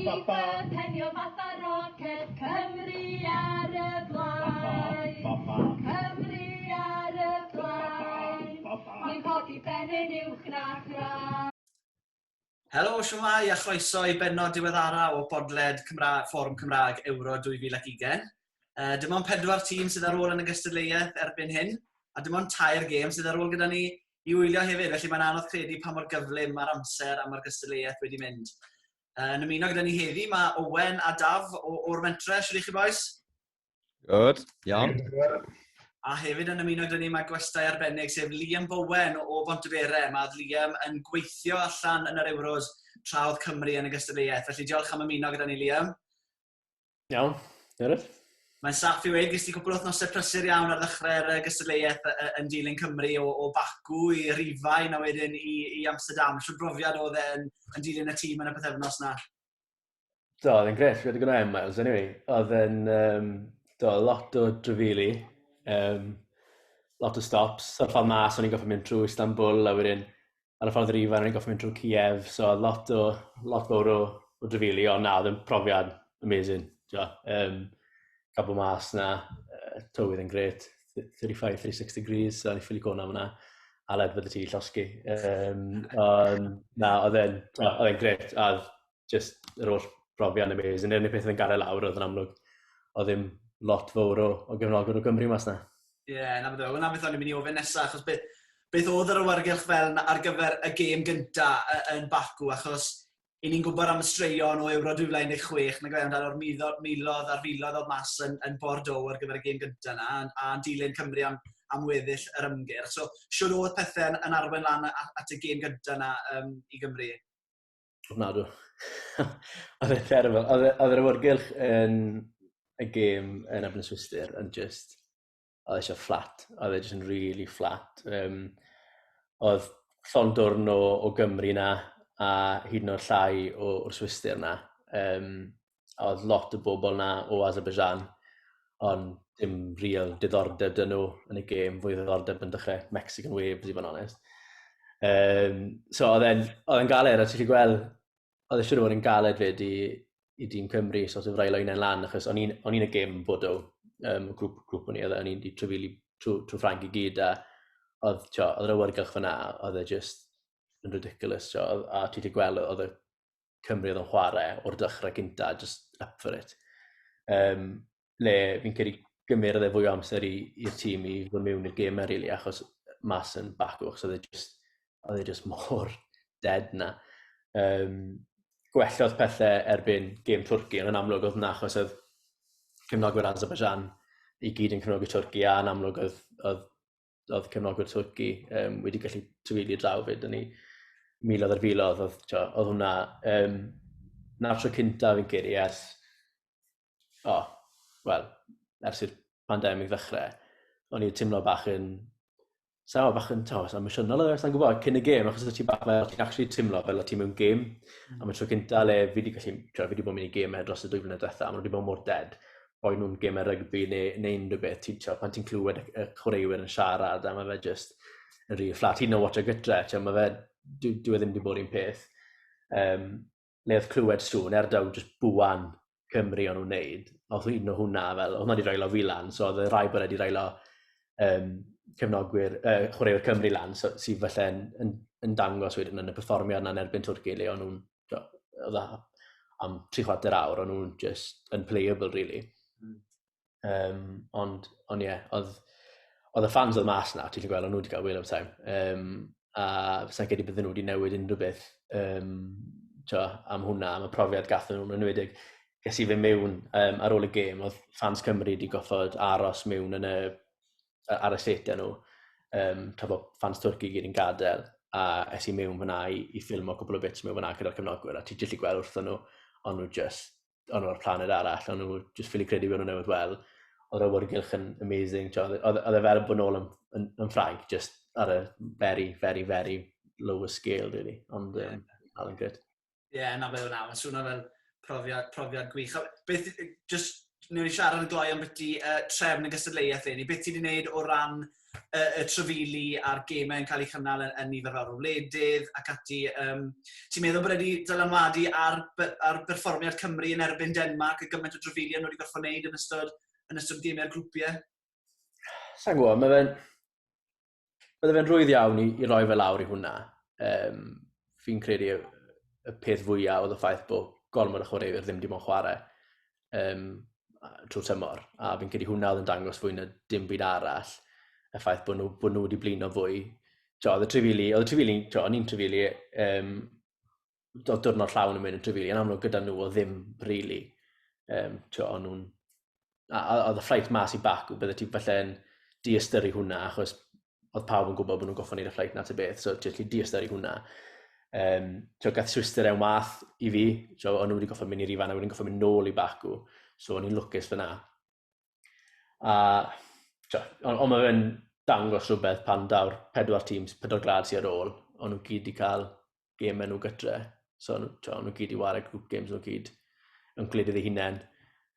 Goalkeeper penio fatha roced Cymru ar y blaen Cymru ar y blaen Ni'n codi ben yn uwch na thraed Helo, shwmae a chroeso i bennod diweddara o bodled Cymra Fforwm Cymraeg Ewro 2020. Uh, dim ond pedwar tîm sydd ar ôl yn y gystadleuaeth erbyn hyn, a dim ond tair gêm sydd ar ôl gyda ni i wylio hefyd, felly mae'n anodd credu pa mor gyflym mae'r amser a mae'r gystadleuaeth wedi mynd. Yn ymuno gyda ni heddi, mae Owen a Daf o'r mentre, sydd i chi boes? Good, iawn. A hefyd yn ymuno gyda ni mae gwestau arbennig sef Liam Bowen o Bontebere. Mae Liam yn gweithio allan yn yr Euros tra oedd Cymru yn y gystadleuaeth. Felly diolch am ymuno gyda ni Liam. Iawn, Gareth? Mae'n saff i weud, ges ti cwpl o wythnosau prysur iawn ar ddechrau'r uh, gystadleuaeth uh, yn dilyn Cymru o, o Baku i Rhifain a wedyn i, i Amsterdam. Siwr brofiad oedd e yn, yn dilyn y tîm yn y pethefnos na? Do, oedd e'n gret, fi wedi gwneud e, Miles, anyway. Oedd e'n, um, do, lot o drefili, um, lot o stops, sort of mas, o'n i'n goffa mynd trwy Istanbul a wedyn ar y ffordd i'r Ifan, rwy'n goffi mynd trwy Kiev, so lot o, lot fawr o, o drefili, ond na, oedd yn profiad amazing. Tio, um, cael bod mas na, uh, tywydd yn gret, 35-36 degrees, so ni'n ffili gona fyna, a led fydde ti llosgi. Um, on, na, oedd e'n, oedd e'n gret, a just yr holl brofiad amazing. Yr unig peth oedd yn gadael lawr oedd yn amlwg, oedd ddim lot fawr o, o gefnogwr o Gymru mas na. Ie, yeah, na beth oedd. Wna beth o'n i'n mynd i ofyn nesaf, achos beth, beth oedd yr awyrgylch fel yna ar gyfer y gêm gynta yn Baku, achos i ni'n gwybod am y straeon o Euro 2016, na gwaith amdano'r milodd a'r filodd oedd mas yn, yn Bordeaux ar gyfer y gêm gynta yna, a'n dilyn Cymru am, am weddill yr ymgyrch. So, siwr oedd pethau yn, yn arwen lan at y gêm gynta yna um, i Gymru? Ofnadw. oedd e'n terrible. Oedd e- oedd yr awyrgylch yn y gêm yn Ebyn Swister yn just... Oedd eisiau fflat. Oedd e just yn really fflat. Um, oedd llond dwrn o, o Gymru na a hyd yn o'r llai o'r Swister na. Um, oedd lot o bobl na o Azerbaijan, ond dim real diddordeb dyn nhw yn y gêm, fwy ddiddordeb yn dechrau Mexican Waves i fod yn onest. Um, so oedd e'n, oedd e'n galed, a ti'n chi gweld, oedd e'n siŵr fod yn galed fyd i, i dîm Cymru, so oedd e'n rhaid o'i'n lan, achos o'n i'n y gêm bod o, um, grŵp, grŵp o'n i, oedd o'n i'n trwyfili trwy, trwy Frank i gyd, a oedd, tio, oedd yr awyrgylch fyna, oedd e just yn ridiculous, tio, a ti'n chi gweld, oedd y Cymru oedd yn chwarae o'r dechrau gynta, just up for it. Um, le fi'n credu gymryd e fwy o amser i'r tîm i fod mewn i'r gêm rili, achos mas yn bacw, achos oedd e just, oedd e just mor dead na. Um, gwellodd pethau erbyn gêm Twrci, ond yn amlwg oedd na, achos oedd cymnogwyr Azerbaijan i gyd yn cymnog y Twrci, a yn amlwg oedd, oedd oedd cefnogwyr Twrci um, wedi gallu trwyli draw fyd yn ni milodd ar filodd, oedd, tio, oedd hwnna, um, na'r tro cynta fi'n credu ers, o, oh, wel, ers i'r pandemig ddechrau, o'n i'n teimlo bach yn, sa'n gwybod, bach yn, tio, sa'n emosiynol oedd, e, sa'n gwybod, cyn y gêm, achos oedd ti'n bach fel, ti'n actually teimlo fel o ti'n mewn gêm, mm. a mae tro cynta le fi wedi gallu, tio, fi wedi bod yn mynd i gêm dros y dwy flynedd diwethaf, a mae wedi bod mor dead, rhoi nhw'n gymau rygbi neu, neu unrhyw beth, ti'n tio, pan ti'n clywed y, y chwaraewyr yn siarad, a mae fe just yn rhy fflat. Hyd yn oed o gytre, tio, mae fe, dwi, dwi e ddim wedi bod i'n peth. Um, le oedd clywed sŵn, er daw just bwan Cymru o'n nhw'n neud, oedd un o hwnna, fel, oedd hwnna wedi railo fi lan, so oedd y rai bod wedi railo um, cefnogwyr, uh, chwaraewyr Cymru lan, so, sydd felly yn, yn, yn dangos wedyn yn y perfformiad yna yn erbyn Twrci, le o'n nhw'n dda am tri chwarter awr, o'n nhw'n just yn playable, really. Mm. Um, ond, ond ie, yeah, oedd, oedd y fans oedd mas na, ti'n gweld, o'n nhw wedi cael wheel of time. Um, a fysa'n credu bydden nhw wedi newid unrhyw beth um, tio, am hwnna, am y profiad gath nhw'n enwedig. Ges i fe mewn um, ar ôl y gêm, oedd fans Cymru wedi goffod aros mewn yn y ar y set nhw, um, tra bod fans Twrci gyd yn gadael, a es i mewn fyna i, i ffilm o cwbl o bits mewn fyna gyda'r cefnogwyr, a ti jyllid gweld wrthyn nhw, ond nhw just, ond nhw'r planed arall, ond nhw just ffili credu bod nhw'n newydd wel, oedd awyrgylch yn amazing, oedd e fel bod nôl yn, yn, yn ffraig, just ar y very, very, very lower scale, really, ond um, yeah. all yn good. Ie, na fe wna. Mae'n swnio fel profiad, profiad gwych. Beth, just, newn ni siarad yn gloi am beth i uh, trefn y gystadleuaeth ni. Beth ti'n ei wneud o ran uh, y trefili a'r gemau yn cael eu cynnal yn, yn nifer fawr o wledydd ac ati. Um, ti'n meddwl bod wedi dylanwadu ar, ar berfformiad Cymru yn erbyn Denmark y gymaint o trefili nhw wedi gorfod wneud yn ystod, yn ystod gemau'r grwpiau? Sa'n gwybod, mae fe'n... Bydde fe'n rwydd iawn i, i roi fe lawr i hwnna. Um, fi'n credu y, y peth fwyaf oedd y ffaith bod gormod o chwaraewyr ddim dim ond chwarae um, trwy tymor. A fi'n credu hwnna oedd yn dangos fwy na dim byd arall. Y ffaith bod nhw, bod nhw wedi blino fwy. Jo, oedd y trifili, oedd y trifili, jo, o'n i'n trifili, um, do, dwrnod llawn yn mynd yn trefili, yn amlwg gyda nhw o ddim really. Um, tio, o'n nhw'n... Oedd y fflait mas i bac, bydde ti falle yn diastyru hwnna, achos oedd pawb yn gwybod bod nhw'n goffa neud y fflait na ti beth, so ti'n gallu diastyru hwnna. Um, tio, gath Swister ewn wath i fi, tio, o'n nhw wedi goffa mynd i'r ifan a wedyn goffa mynd nôl i Baku, so o'n i'n lwcus fyna. A, tio, ond on mae fe'n dangos rhywbeth pan daw'r pedwar tîms, pedwar grad sy'n ar ôl, o'n nhw gyd wedi cael gêm enw gytre. So, o'n nhw gyd i wario grŵp games, nhw gyd yn gwledydd ei hunain.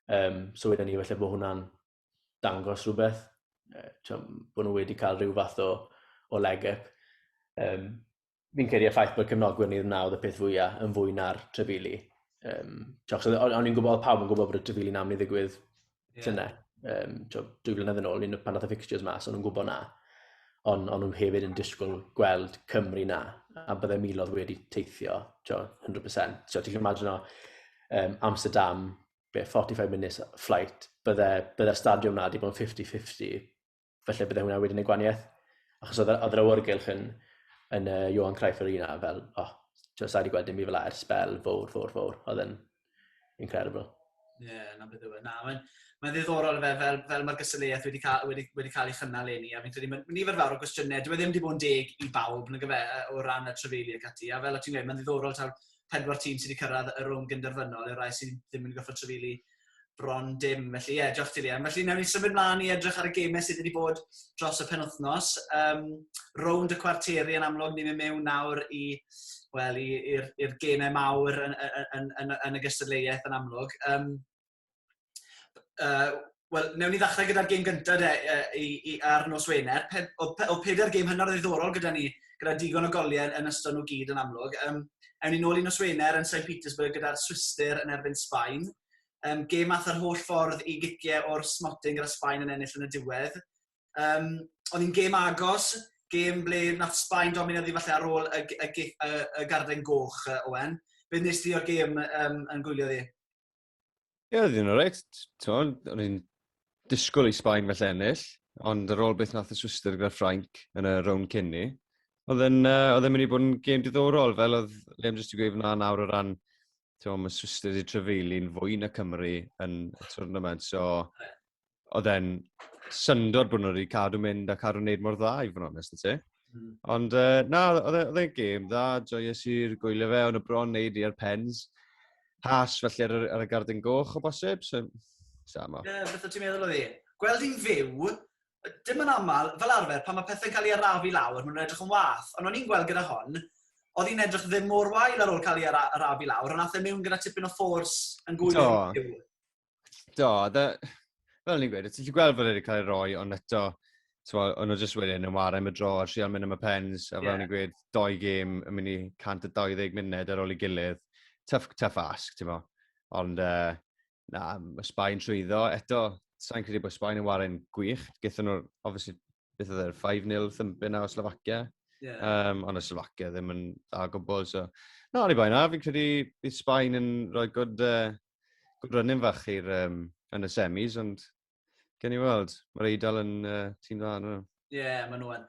Um, so wedyn ni, felly bod hwnna'n dangos rhywbeth. Uh, bod nhw wedi cael rhyw fath o, o leg up. Um, fi'n credu y ffaith bod cefnogwyr ni wna oedd y peth fwyaf yn fwy na'r trefili. Um, o'n i'n gwybod, pawb yn gwybod bod y trefili'n amlyd ddigwydd yeah. tyna, um, dwy flynedd yn ôl, un pan oedd y fixtures mas, o'n nhw'n gwybod na. Ond on nhw hefyd yn disgwyl gweld Cymru na, a byddai milodd wedi teithio, tjo, 100%. Tjo, ti'n imagine o um, Amsterdam, be, 45 minutes flight, byddai, byddai stadiwm na wedi bod yn 50-50, felly bydde hwnna wedyn y gwaniaeth. Achos oedd yr awyrgylch yn, yn uh, Johan Cruyff Arena, fel, oh, ti'n sa'i wedi gweld dim i fel a'r spel, fawr, fawr, fawr. Oedd yn incredible. Ie, yeah, na beth yw e. Na, mae'n mae ddiddorol fe, fel, fel mae'r gysylltiaeth wedi cael, wedi, wedi cael ei chynnal ei ni, a fi'n credu mae'n nifer fawr o gwestiynau, dwi e ddim wedi bod yn deg i bawb, na gyfe, o ran y trefeili ac ati, a fel o ti'n gweud, mae'n ddiddorol taw pedwar tîm sydd wedi cyrraedd y rhwng gynderfynol i'r rai sydd ddim wedi goffa trefeili bron dim. Felly ie, yeah, diolch ti Liam. Felly newn ni symud mlaen i edrych ar y gemau sydd wedi bod dros y penwthnos. Um, rownd y cwarteri yn amlwg, ni'n mynd mewn nawr i wel, i'r gemau mawr yn, yn, yn, yn, yn y gystadleuaeth yn amlwg. Um, uh, Wel, newn ni ddechrau gyda'r gêm gyntaf de, uh, i, i, ar nos Wener. Pe, o, o pedair gêm hynod ddiddorol gyda ni gyda digon o goliau yn ystod nhw gyd yn amlwg. Um, ewn ni nôl i nos Wener yn St Petersburg gyda'r Swister yn erbyn Sbaen. Um, gêm ath yr holl ffordd i giciau o'r smotyn gyda Sbaen yn ennill yn y diwedd. Um, oedd hi'n gêm agos, gêm ble nath Sbaen domino ddi falle ar ôl y, y, y, y, y garden goch, Owen. Beth nes ti o'r gêm um, yn gwylio ddi? Ie, oedd hi'n oreit. T'mod, o'n i'n disgwyl i Sbaen felly ennill, ond ar ôl beth nath y Swister gyda Ffrainc yn y rown cyn ni, oedd yn, uh, oedd yn mynd i bod yn gêm diddorol, fel oedd Liam jyst i gweud fyna nawr o ran, ti'n mae Swister wedi trefeili'n fwy na Cymru yn y tournament, so oedd e'n syndod bod nhw wedi cadw mynd a cadw wneud mor dda i fod yn onest yn ti. Mm. Ond uh, na, oedd e, e'n gêm dda, joyous i'r gwylio fe, ond y bron wneud i'r pens. Has felly ar, ar y gardyn goch o bosib, so samo. Ie, yeah, beth o ti'n meddwl o ddi? Gweld i'n fyw, dim yn aml, fel arfer, pan mae pethau'n cael ei arafu lawr, maen nhw'n edrych yn wath. Ond o'n i'n gweld gyda hon, oedd hi'n edrych ddim mor wael ar ôl cael ei arafu lawr, ond nath e mewn gyda tipyn o ffors yn gwyl. do, dda, fel ni'n gweud, ti'n gweld fod wedi cael ei roi, ond eto, o'n nhw jyst wedyn yn wario am y dro, a trial mynd am y pens, a fel yeah. ni'n gweud, doi gêm yn mynd i 120 munud ar ôl ei gilydd. Tough, tough ask, ti'n mo. Ond, uh, na, mae Sbaen trwyddo. Eto, sa'n credu bod Sbaen yn wario'n gwych. Gythyn nhw'r, obviously, beth oedd e'r 5-0 thumpin na o Slovakia. Yeah. Um, ond y Slovakia ddim yn dda gwbl, so... Na, ni bai na, fi'n credu bydd Sbaen yn rhoi good, uh, good run in fach i'r um, yn y semis, ond gen i weld, mae'r Eidal yn uh, tîm dda nhw. Ie, yeah, maen nhw'n.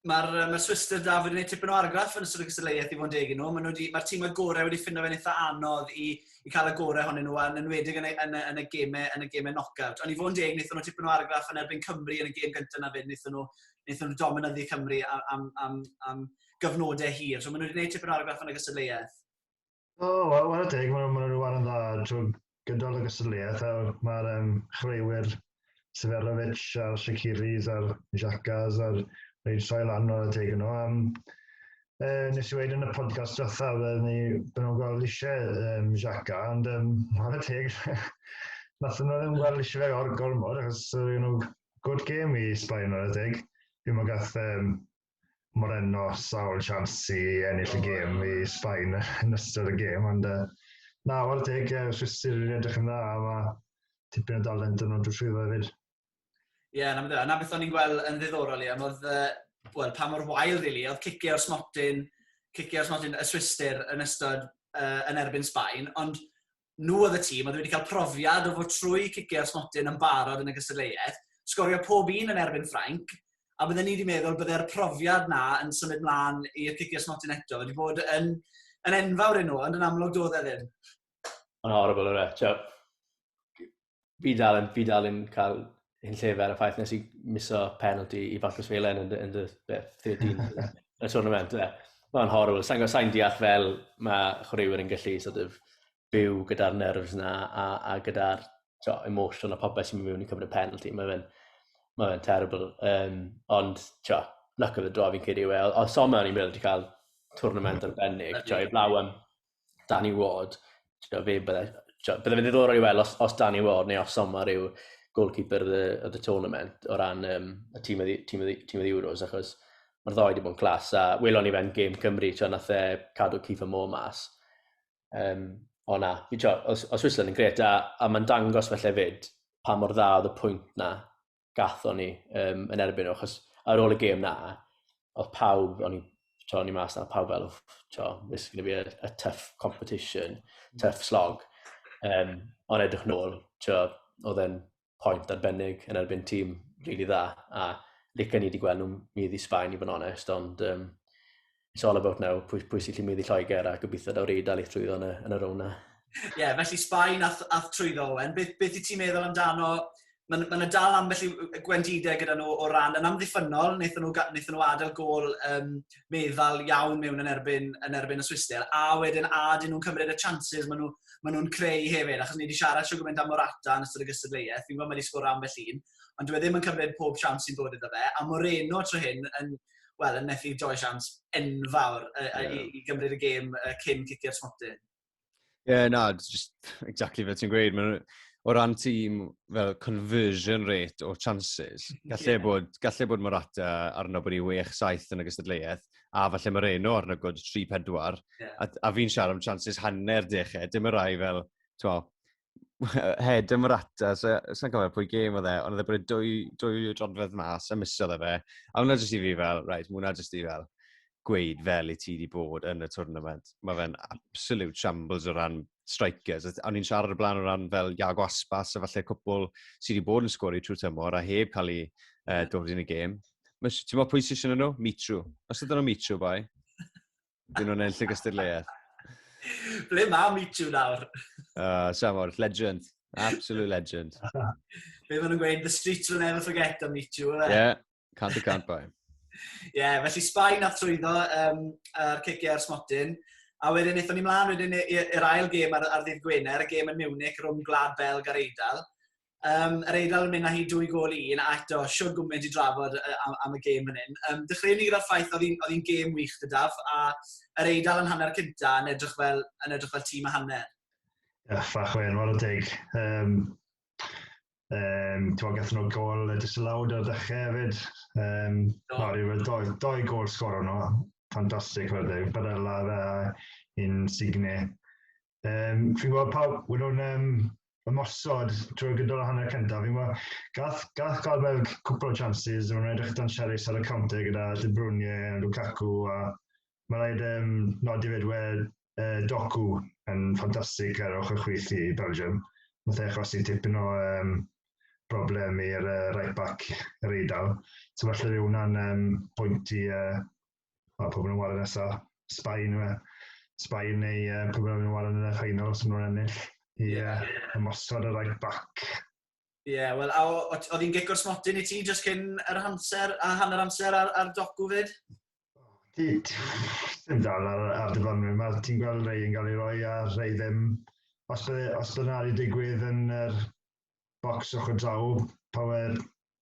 Mae'r uh, ma Swister da wedi gwneud tipyn o argraff yn ystod y gystadleuaeth i fod yn deg yn nhw. Mae'r ma, ma tîmau gorau wedi ffindo fe'n eitha anodd i, i cael y gorau honyn nhw, yn enwedig yn y, yn y, yn y gemau, yn y gemau knock-out. Ond i fod yn deg, wnaethon nhw tipyn o argraff yn erbyn Cymru yn y gêm gyntaf na fyd, wnaethon nhw, wnaethon nhw dominyddu Cymru am, am, am, am gyfnodau hir. So maen nhw wedi gwneud tipyn o argraff yn y gystadleuaeth. O, wel, wel teg, maen nhw'n rhyw arn dda trwy gydol y gystadleuaeth. Mae'r um, chreuwyr Severovic a'r Shakiris a'r Xhakas a'r reid troi lan o'r y teg yno. Um, e, nes i wedi yn y podcast diwetha, fydden ni byn nhw'n gweld eisiau um, Xhaka, ond um, mae'r y teg, nath nhw ddim gweld eisiau fe o'r gormod, achos uh, you know, good game i Sbaen o'r y teg. Fi'n mwyn gath um, Moreno sawl sians i ennill y gêm i Sbaen yn ystod y gêm, ond uh, na, o'r deg, uh, Swistir yn edrych yn dda, a mae tipyn o dalent yn o'n drwy llwyddo hefyd. Ie, yeah, na, na beth o'n i'n gweld yn ddiddorol iawn, oedd, uh, well, pa mor wael, really, oedd cicio o'r smotyn, cicio o'r smotyn y Swistir yn ystod uh, yn erbyn Sbaen, ond nhw oedd y tîm oedd wedi cael profiad o fod trwy ciciau ar smotyn yn barod yn y gystadleuaeth, sgorio pob un yn erbyn Ffrainc, a bydden ni wedi meddwl bydde'r profiad na yn symud mlaen i'r ciciau smotyn eto wedi bod yn, yn enfawr i nhw, ond yn amlwg doedd e ddim. Mae'n horrible, yw e? Fi dal yn, fi dal yn cael hyn llefer ar y ffaith nes i miso penalty i Fathus Felen yn, yn y 13 y tournament. Mae'n horrible. Sa'n sain deall fel mae chwaraewyr yn gallu sort of, byw gyda'r nerves na a, a gyda'r so, emotion a popeth sy'n mynd mewn i cymryd penalty. Mae fe'n ma fe terrible. Um, ond, tio, luck of the draw fi'n credu yw e. Oedd Soma o'n i'n meddwl wedi cael tournament arbennig. Tio, i blaw am Danny Ward, fe bydde, bydde fe ddiddorol i weld os, os Danny Ward neu os Sommer yw goalkeeper y, y, y tournament o ran um, y tîm y, tîm, y, tîm y Euros, achos mae'r ddoi wedi bod yn clas, a welon ni fe'n gêm Cymru, ti'n nath e cadw Keith Mo mas. Um, o na, fi ti'n os, os Switzerland yn gret, a, a mae'n dangos felly fyd pa mor dda oedd y pwynt na gathon ni um, yn erbyn nhw, achos ar ôl y gêm na, oedd pawb, o'n i, to, o'n i mas na, pawb fel, to, this is going to be a, a tough competition, mm. tough slog. Um, ond edrych nôl, to, oedd e'n pwynt arbennig yn erbyn tîm rili really dda, a lyca ni wedi gweld nhw'n mynd i Sbaen i fod yn onest, ond um, it's all about now, pwy, pwy sy'n gallu mynd i Lloegr a gobeithio daw'r Eidal i trwyddo yn y, yn y rown na. Ie, yeah, felly Sbaen ath, ath trwyddo Owen. Beth, beth i ti'n meddwl amdano? Mae'n ma dal am felly gwendidau gyda nhw o ran yn amddiffynol, wnaethon nhw, wnaethon nhw adael gol um, meddal iawn mewn yn erbyn, yn erbyn y Swistel, a wedyn a dyn nhw'n cymryd y chances maen nhw, ma nhw'n creu hefyd, achos ni wedi siarad siw gymaint am Morata yn ystod y gystadleuaeth, fi'n gwybod mae wedi sgwrdd am felly un, ond dwi e ddim yn cymryd pob siawns sy'n dod iddo fe, a Moreno tro hyn yn, wel, yn methu joio siawns enfawr uh, yeah. i, i gymryd y gêm uh, cyn cicio'r smotyn. Ie, yeah, na, just exactly fe ti'n gweud. O ran tîm fel conversion rate o chances, gallai yeah. bod, gallai bod Morata arno bod i 6-7 yn y gystadleuaeth, a falle Moreno arno god 3-4, yeah. a, a fi'n siarad am chances hanner deched, dim y rai fel, ti'n head ym Morata, so, sa'n cofio pwy gêm oedd e, ond oedd e bod dwy, dwy drodfedd mas a misodd e fe. A hwnna jyst i fi fel, right, hwnna jyst i fel gweud fel i ti wedi bod yn y tournament. Mae fe'n absolute shambles o ran strikers. A ni'n siarad y blaen o ran fel Iago Aspas, a falle cwpl sydd wedi bod yn sgori trwy tymor a heb cael ei uh, dod yn y gêm. Ti'n meddwl pwy sy'n nhw? Mitru. Os ydyn nhw Mitru, boi. Dyn nhw'n enll y gystadleuaeth. Ble mae Michu nawr? Uh, Samor, legend. Absolute legend. Be maen nhw'n gweud, the streets will never forget am Michu, yna? Yeah, can't be can't buy. Ie, yeah, felly Sbaen a trwyddo um, ar ciciau ar smotyn. A wedyn, eithon ni mlaen wedyn i'r ail gêm ar, ar ddydd Gwener, y gêm yn Munich, rhwng Glad Belg ar Eidal. Um, yr Eidal yn mynd â hi dwy gol i un, a eto, siwr gwmynt i drafod am, am y gêm yn un. Um, dechreuwn ni gyda'r ffaith oedd hi'n gêm wych dydaf, a yr Eidal yn hanner cynta yn edrych fel, yn edrych fel tîm a hanner. Ych, fach wen, war o deg. Um, Um, Ti'n gath nhw gol y disalawd o'r dechrau hefyd. Um, no. no, rhywbeth doi, doi gol sgoro nhw. Fantastic, fe ddeg. Barella fe a un Signe. Um, fi'n gweld pawb, we don't, um, ymosod drwy'r gydol o hanner cyntaf. Fi'n gweld, gath, gath gael fel cwpl o chances, ond edrych dan Siaris ar y counter gyda De Bruyne a Lukaku, a mae rhaid um, nodi fed we uh, Doku yn ffantastig ar ochr chwith i Belgium. Mae eich os i tipyn o um, broblem i'r uh, right back yr eidl. So falle fe hwnna'n um, pwynt i uh, Wel, pobl yn wario nesa, Sbaen yw e. Sbaen neu uh, pobl yn wario yn y final os maen nhw'n ennill. I yeah. uh, ymosod y right back. Ie, yeah, wel, oedd hi'n gic o'r smotyn i ti just cyn yr amser a hanner amser ar, ar docu fyd? Dim dal ar, ar dyfarnwyr yma. Ti'n gweld rei yn cael ei roi a rei ddim. Os bydd, os bydd yna wedi digwydd yn yr bocs ochr draw, power,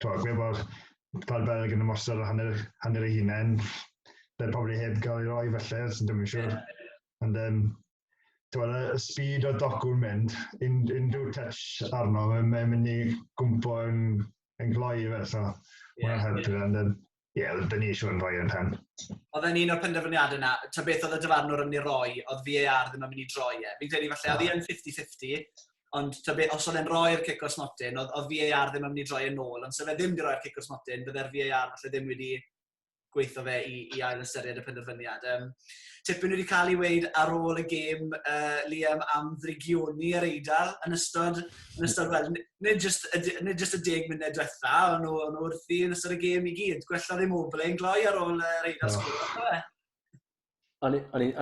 twa, gwe bod Pal Belg yn ymosod ar hanner, hanner ei hunain. Bydd pobl heb gael ei roi felly, sy'n ddim yn siŵr. Yeah. Ond um, twa, y speed o dogw'n mynd, un, unrhyw touch arno, mae'n mynd i gwmpo yn, yn gloi fel so. Yeah, Mae'n helpu yeah. fe, ond um, Ie, yeah, dyn ni eisiau fod yn rhoi yn rhan. Oedd e'n un o'r penderfyniadau yna, ta beth oedd y dyfarnwr yn ei roi, oedd VAR ddim yn mynd i droi e. Fi'n credu falle, oedd e'n 50-50, ond ta beth, os oedd e'n rhoi'r cic o'r smotyn, oedd, oedd VAR ddim yn mynd i droi e'n ôl, ond sef e ddim wedi rhoi'r cic o'r smotyn, bydde'r VAR falle ddim wedi gweithio fe i, i ail ystyried y penderfyniad. Um, tipyn wedi cael ei weid ar ôl y gêm uh, Liam am ddrigioni yr eidl yn ystod yn ystod, wel, nid just, nid just y deg munud diwetha, ond nhw, nhw wrthi yn ystod y gêm i gyd. Gwella ddim o yn gloi ar ôl yr eidl no. sgwr. O'n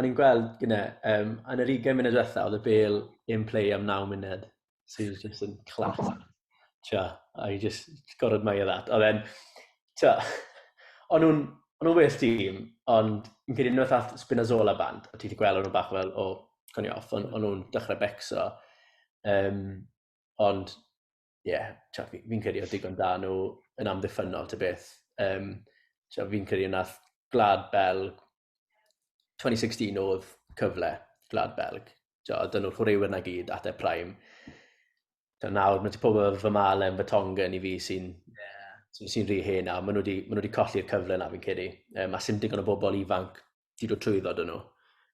i'n gweld gyda, um, yn yr 20 munud diwetha, oedd y bel in play am 9 munud. So he was just in class. Tia, I just got admire that. Oedd e'n, tia, o'n nhw'n O'n nhw'n well tîm, ond yn credu unwaith all Spinazzola band, a ti wedi gweld o'n nhw bach fel, o, coni off, o'n nhw'n dechrau becso. Um, ond, ie, yeah, fi'n credu oedd digon da nhw yn amddiffynol, ty beth. Um, fi'n credu yna Glad Belg, 2016 oedd cyfle Glad Belg. Dyn nhw'r chwaraewyr na gyd at e prime. So, nawr, mae ti pobl fy Malen, fy Tongan i fi sy'n yeah. sy'n sy rhy hen nawr. Maen nhw wedi colli'r cyfle na fi'n credu. Um, a sy'n digon o bobl ifanc di dod trwyddo dyn nhw.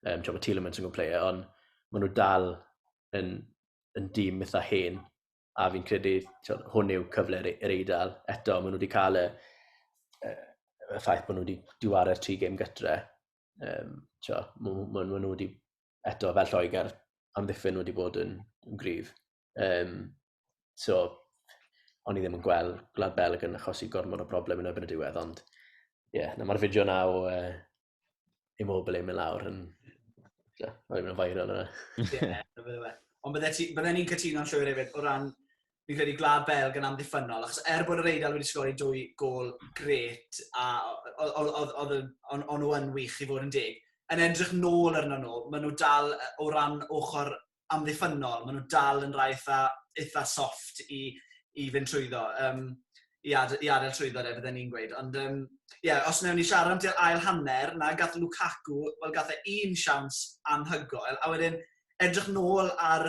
Um, mae Tielemans yn gwybod player, ond maen nhw dal yn, yn dîm eitha hen, a fi'n credu tiwod, hwn yw cyfle yr e-, eidl. Eto, maen nhw wedi cael y, y, y ffaith bod nhw wedi diwarau'r tri gêm gytre. Um, maen nhw wedi, eto, fel Lloegr, amddiffyn nhw wedi bod yn, yn gryf. Yym, so, o'n i ddim yn gweld Gwlad Belg yn achosi gormod o broblem yn erbyn y diwedd, ond ie, yeah, mae'r fideo na o uh, Immobile mynd lawr yn... Yeah, o'n i'n mynd yn viral yna. Ie, Ond byddai'n ni'n cytuno'n llwyr hefyd o ran fi'n credu Gwlad Belg yn amddiffynol, achos er bod yr Eidal wedi sgori dwy gol gret, a oedd nhw yn wych i fod yn deg, yn edrych nôl arno nhw, maen nhw dal o ran ochr amddiffynnol, maen nhw dal yn rhai eitha, eitha soft i, i fynd trwyddo, um, i, ad, i adael trwyddo de, fydden ni'n gweud. Ond um, yeah, os newn ni siarad am ti'r ail hanner, na gath Lukaku, wel gath e un siawns anhygoel, a wedyn edrych nôl ar,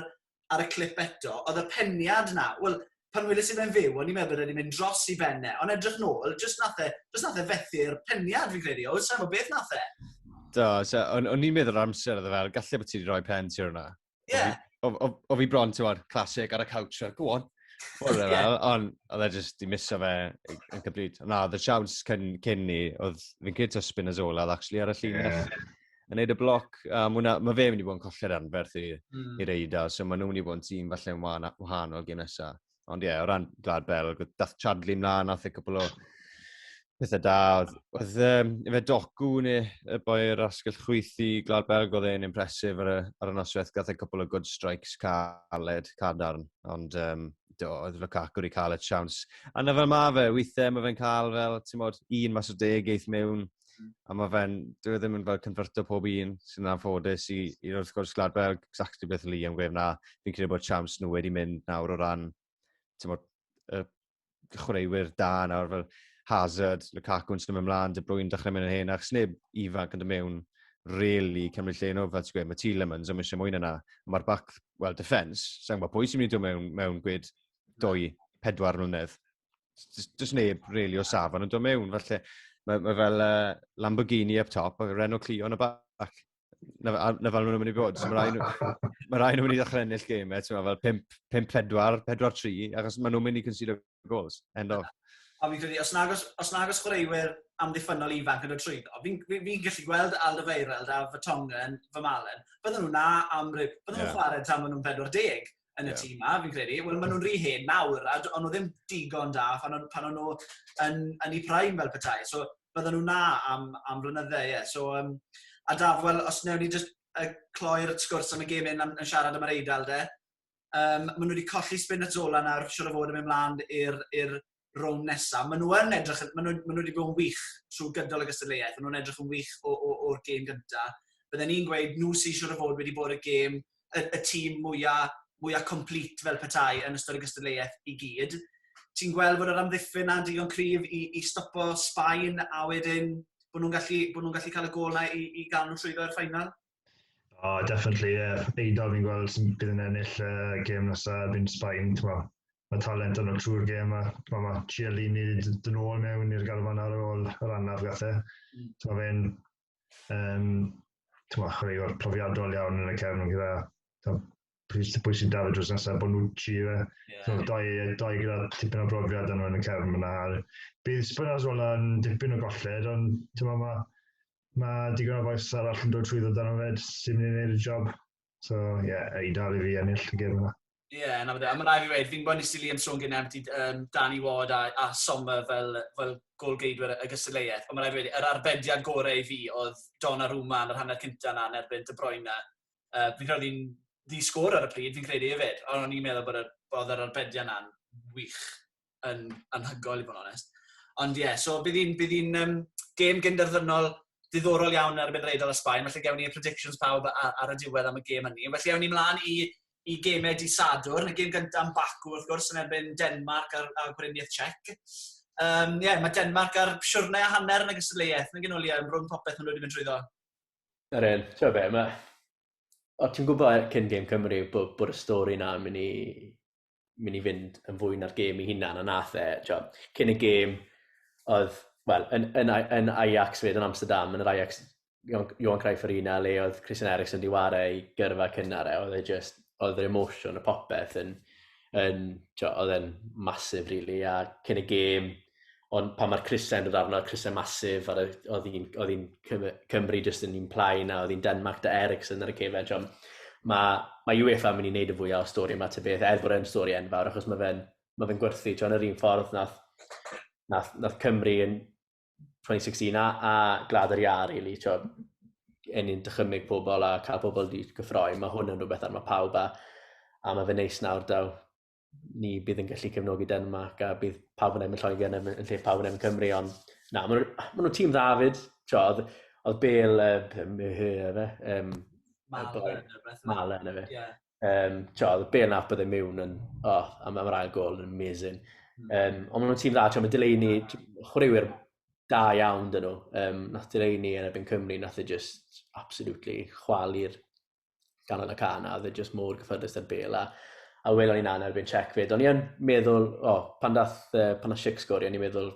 ar y clip eto, oedd y peniad na, wel, pan weles i fe'n fyw, o'n i'n meddwl bod e wedi mynd dros i ben e, ond edrych nôl, jyst nath e, jyst nath e fethu'r peniad fi'n credu, o, sa'n gwybod beth nath e. Do, so, o'n, o'n i'n meddwl amser oedd e fel, gallu bod ti wedi rhoi pen ti ar hwnna. Ie. Yeah. O, o, o, fi bron, ti'n gwybod, classic ar y couch, fel, go on. Oedd e fel, ond oedd e jyst di miso fe yn cybryd. Na, oedd y siawns cyn, cyn ni, oedd fi'n credu to spin as all, oedd actually ar y llinell. Yeah. yn neud y bloc, a um, ma, ma fe mynd i bod yn colli'r anferth i, mm. i'r eida, so maen nhw'n mynd i bod yn tîm falle yn wahanol gen nesaf. Ond ie, yeah, o ran Glad Bell, dath Chadley mlaen, nath e cwbl o pethau da. Oedd, oedd um, efe docu neu y boi yr asgell chwyth i Glad Bell, oedd e'n impresif ar y, ar y noswaith, gath e cwbl o good strikes caled, cadarn, ond um, do, oedd Lukaku wedi cael y siawns. A na fel ma fe, weithiau mae fe'n cael fel, ti'n modd, un mas o deg eith mewn, A mae fe'n, dwi e ddim yn fel converto pob un sy'n anffodus i, i wrth gwrs Gladwell, exactly beth o'n i am gweud na. Fi'n credu bod siams nhw wedi mynd nawr o ran, ti'n bod, y chwaraewyr da nawr fel Hazard, Lukaku yn symud ymlaen, De Bruyne dechrau mynd yn hen, achos neb ifanc yn dod mewn really cymryd lle nhw, fel ti'n gweud, mae Tielemans yn eisiau mwy na na. Mae'r back, well, defence, sa'n gwybod pwy sy'n mynd i dod mewn, mewn gwyd dwy, pedwar mlynedd. Does neb really o safon yn dod mewn, falle. Mae, mae fel uh, Lamborghini up top a Renault Clio yn y bac. Na, na fel nhw'n mynd i bod. So mae rhaid nhw'n rhai nhw mynd i ddechrau ennill game, e, ti'n fel 5-4, 4-3, achos mae nhw'n mynd i consider goals. End of. A fi'n credu, os nag os, os, nag os chwaraewyr amddiffynol ifanc yn y trwydd, fi'n fi, fi gallu gweld Aldo Feireld a fy Tongen, fy Malen, bydden nhw'n na am rib, bydden nhw'n yeah. chwarae tan maen nhw'n 40. yn y yeah. tîm ma, fi'n credu. Wel, maen nhw'n rhy hen nawr, a ond nhw ddim digon da pan o'n, pan o'n nhw yn, yn ei prime fel petai. So, bydden nhw na am, am flynydde, ie. Yeah. So, um, a daf, wel, os newn ni just uh, cloi'r sgwrs am y gêm yn, yn siarad am yr eidl, de. Um, maen nhw wedi colli spin at Zola nawr, siwr o fod yn mynd mlaen i'r rown nesaf. Maen nhw yn edrych, maen nhw, maen nhw wedi bod yn wych trwy gydol y gystadleuaeth, maen nhw'n edrych yn wych o'r gêm gyntaf. Bydden ni'n gweud nhw sy'n siŵr o fod wedi bod y gêm, y, y tîm mwyaf, mwyaf complete fel petai yn ystod y gystadleuaeth i gyd. Ti'n gweld bod yr amddiffyn na'n digon cryf i, i stopo Sbaen a wedyn bod nhw'n gallu, bod nhw gallu cael y gol na i, i gael nhw trwyddo i'r ffainal? Oh, definitely, ie. Yeah. Eiddo fi'n gweld sy'n bydd yn ennill uh, gêm nesaf erbyn Sbaen, ti'n mo. Mae talent yn o'r trwy'r gêm a ma, ma Chiellini dyn ôl mewn i'r garfan ar ôl yr anaf gath e. Mm. Ti'n mo fe'n, um, ti'n mo, chwaraewr profiadol iawn yn y cefn gyda pwy, pwy sy'n dal y drws nesaf, Bonucci, fe. Yeah. So, doi, doi gyda tipyn o brofiad yn y cefn yna. Bydd Spinazzola yn dipyn o golled, ond tyma, mae ma digon o faes arall yn dod trwy ddod dan o fed sy'n mynd i wneud y job. So, ie, yeah, ei dal i fi ennill y gem yna. Ie, yeah, na fe. A mae rai fi wedi, fi'n gwybod nes i Liam sôn gen empty um, Danny Ward a, a Sommer fel, fel golgeidwyr y gystadleuaeth. Ond mae rai fi wedi, yr arbediad gorau i fi oedd Donnarumma yn yr hanner cyntaf na yn erbyn De Bruyne Yy, fi'n credu oedd hi'n ddi-sgôr ar y pryd, fi'n credu hefyd, ond o'n i'n meddwl bod yr, oedd yr arbedion na'n wych, yn anhygoel i fod yn onest. Ond ie, yeah, so bydd hi'n, bydd hi'n um, gêm gynderfynol diddorol iawn ar y Benreidol a Sbaen, felly gewn ni predictions pawb ar, ar y diwedd am y gêm hynny. Felly ewn ni mlaen i, i gemau di Sadwrn, y gêm gyntaf yn Baku wrth gwrs yn erbyn Denmark a'r, a'r Gweriniaeth Czech. Um, yeah, mae Denmark ar siwrnau a hanner yn y gystadleuaeth, yn gynnu Liam, rhwng popeth maen nhw wedi mynd trwyddo. Yr un, ti'n gwybod be, mae... O, ti'n gwybod e- cyn gêm Cymru bod, bod y stori yna yn mynd i, mynd i fynd yn fwy na'r gêm i hunan, a nath e, ti'n cyn y gêm, oedd, wel, yn, yn, yn, yn Ajax fyd, yn Amsterdam, yn yr Ajax Johan, Johan Cruyff Arena le oedd Christian Eriksen wedi wario ei gyrfa cynnar e, oedd e just, oedd yr emosiwn y popeth yn, yn, ti'n oedd e'n masif rili, really, a cyn y gêm, Ond pan mae'r crysau yn dod arno, y crysau masif, a oedd hi'n oedd hi'n Cymru jyst yn un plaen, a oedd hi'n Denmark da Ericsson ar y cefed, John. Mae, mae UEFA yn mynd i wneud y fwyaf o stori yma, tybeth, beth, er bod e'n stori enfawr, achos mae fe'n ma fe gwerthu, John, yr un ffordd nath, nath, nath Cymru yn 2016 a, a glad yr iar, really, John. Yn ni'n dychymig pobl a cael pobl wedi gyffroi, mae hwn yn rhywbeth ar mae pawb a, a mae fe neis nawr daw ni bydd yn gallu cefnogi Denmark a bydd pawb yn emyn Lloegr yn, yn lle pawb yn emyn Cymru, ond na, maen nhw'n nhw tîm dda fyd. Tio, oedd, oedd Bel, uh, myhy, efe, um, Mala yn efe. Yeah. Um, tio, oedd Bel na bydd yn mewn yn, oh, am, am yr ail gol yn amazing. Mm. Um, ond maen nhw'n tîm dda, tio, mae Delaney, chwaraewyr da iawn dyn nhw. Um, nath Delaney yn ebyn Cymru, nath e just absolutely chwalu'r ganol y can a oedd e just mor gyffyrddus ar bel a, a welon ni'n anna erbyn check fyd. O'n i'n meddwl, o, oh, pan dath, uh, pan dath Shik sgori, o'n i'n meddwl,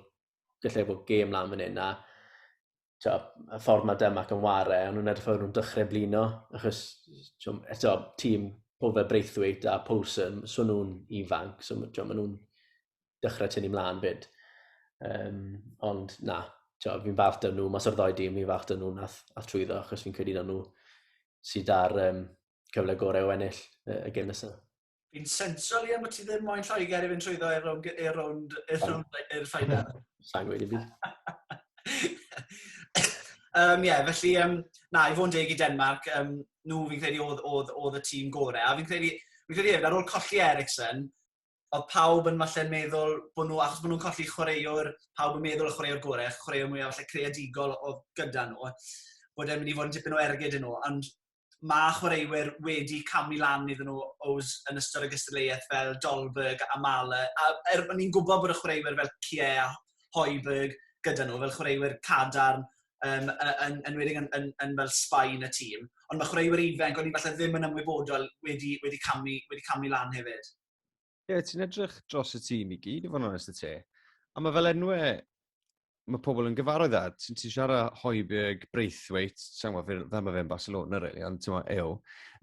gallai bod gêm lan fan hyn a to, y ffordd mae Dymac yn ware, o'n nhw'n edrych fawr nhw'n dechrau blino, achos to, eto, tîm pob fe Braithwaite a Paulson, so nhw'n ifanc, so to, maen nhw'n dechrau tynnu mlaen fyd. Um, ond na, fi'n falch dyn nhw, mas o'r ddoi dim, fi'n falch dyn nhw nath a trwyddo, achos fi'n credu dyn nhw sydd ar um, cyfle gorau o ennill y, y gym nesaf. Fi'n sensio, Liam, bod ti ddim moyn Lloegr i fynd trwyddo i'r rownd i'r rownd i'r ffainal. Sa'n gweud i fi. Um, yeah, felly, um, na, i fod yn deg i Denmark, um, nhw fi'n credu oedd, oedd, oedd y tîm gorau. A fi'n credu, fi'n credu hefyd, ar ôl colli Ericsson, oedd pawb yn falle meddwl bod nhw, achos bod nhw'n colli chwaraewr, pawb yn meddwl y chwaraewr gorau, chwaraewr mwyaf falle creadigol oedd gyda nhw, bod e'n mynd i fod yn dipyn o ergyd yn nhw, ond mae chwaraewyr wedi camu lan iddyn nhw os yn ystod y gystadleuaeth fel Dolberg a Mala, a er, o'n i'n gwybod bod y chwaraewyr fel Kie a Hoiberg gyda nhw, fel chwaraewyr cadarn, um, yn, yn, yn, yn, yn, yn fel Sbaen y tîm. Ond mae chwaraewyr ifanc, o'n i falle ddim yn ymwybodol wedi, wedi, camu, wedi camu lan hefyd. Ie, yeah, ti'n edrych dros y tîm i gyd, i fod yn onest y te. A mae fel enwau mae pobl yn gyfarwydd â, ti'n ti siarad Hoiberg, Braithwaite, sa'n gwybod fel, fel mae fe'n Barcelona, really, ond ti'n meddwl, eo.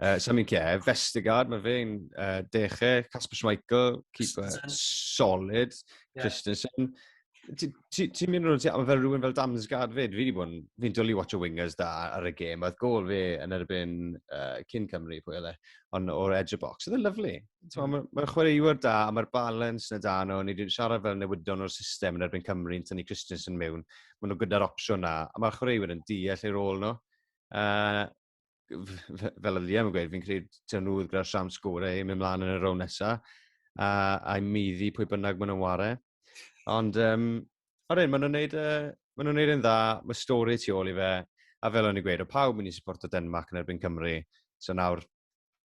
Uh, Samin Cie, Vestigard, mae fe'n uh, deche, Casper Schmeichel, keeper, solid, yeah. Christensen. Ti'n mynd rhywun, ti, fel rhywun fel Damsgaard fyd, fi wedi bod yn, fi'n dwlu watch o wingers da ar y gêm, oedd gol fi yn erbyn uh, cyn Cymru, pwy oedd e, ond o'r edge of box, oedd e'n lyflu. Mae'n ma, ma chwaraewyr da, a mae'r balance na da nhw, ni wedi siarad fel newyddion o'r system yn erbyn Cymru, yn tynnu Christensen mewn, maen nhw gyda'r opsiwn na, a mae'r chwaraewyr yn deall ei rôl nhw. Uh, fel y Liam yn gweud, fi'n credu dyn nhw gyda'r siam sgorau i mynd mlaen yn y rown nesaf, a, a i muddi pwy bynnag maen nhw'n ware. Ond, um, ar un, maen nhw'n neud, uh, maen nhw'n neud yn dda, mae stori tu ôl i fe, a fel o'n i'n gweud, o pawb mynd i supporto Denmark yn erbyn Cymru, so nawr,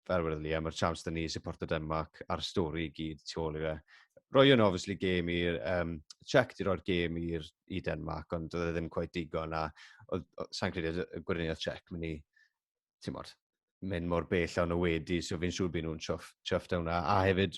fel wedodd Liam, mae'r chance da ni i supporto Denmark a'r stori i gyd tu ôl i fe. Roi yn obviously gêm i'r, um, check di roi'r gêm i'r i Denmark, ond oedd e ddim quite digon a sa'n credu y gwirionedd check mynd i, ti'n modd, mynd mor bell o'n o wedi, so fi'n siŵr byd nhw'n chuff, chuffed o'na. A hefyd,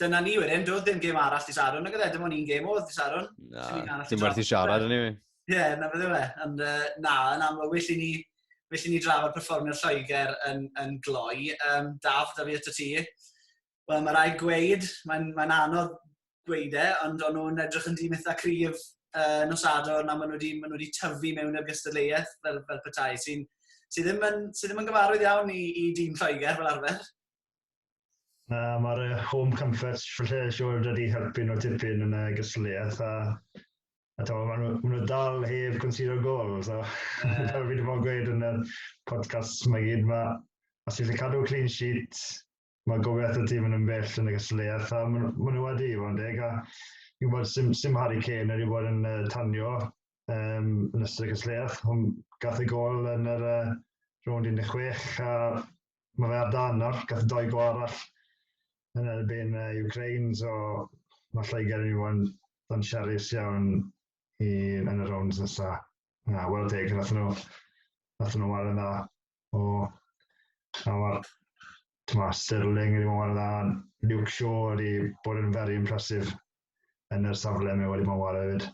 dyna ni wedyn, doedd ddim gêm arall dy Sadwrn, nag oedd dim ond un gêm oedd dy Sadwrn. Na, dim werth i siarad yn yw. Ie, na beth yw e. Ond uh, na, yn amlwg, well i ni, well i ni drafod performio'r Lloegr yn, yn gloi. Um, Daf, da fi eto ti. Wel, mae rai gweud, mae'n mae anodd gweud e, ond o'n nhw'n edrych yn dîm eitha cryf uh, nos ador na maen nhw wedi, maen nhw wedi tyfu mewn i'r gystadleuaeth fel, fel petai, sy'n sy ddim, yn, sy ddim yn gyfarwydd iawn i, i dîm Lloegr fel arfer. Na, mae'r uh, home comforts lle siwr wedi helpu nhw tipyn yn y gysliaeth a, a to, maen nhw, ma nhw dal heb consider gol. So, yeah. fel fi wedi bod yn gweud yn y podcast mae gyd, mae os ti'n cadw clean sheet, mae gofiaeth y tîm yn ymbell yn y gysliaeth a maen ma nhw wedi i fod yn deg. A fi'n bod sy'n sim Harry Kane wedi bod yn uh, tanio um, yn ystod y gysliaeth. Hwn gath y gol yn yr uh, rownd 16 a ma' fe ar dân nawr, gath doi go arall yn erbyn uh, Ukraine, so mae Lloegr yn mynd i fod yn siarus iawn i, yn y rounds nesa. Na, wel teg, nath nhw, nath nhw wario dda o, a mae'r, tyma, Sterling wedi bod yn dda, Luke Shaw wedi bod yn very impressive yn yr safle mae wedi bod yn wario hefyd.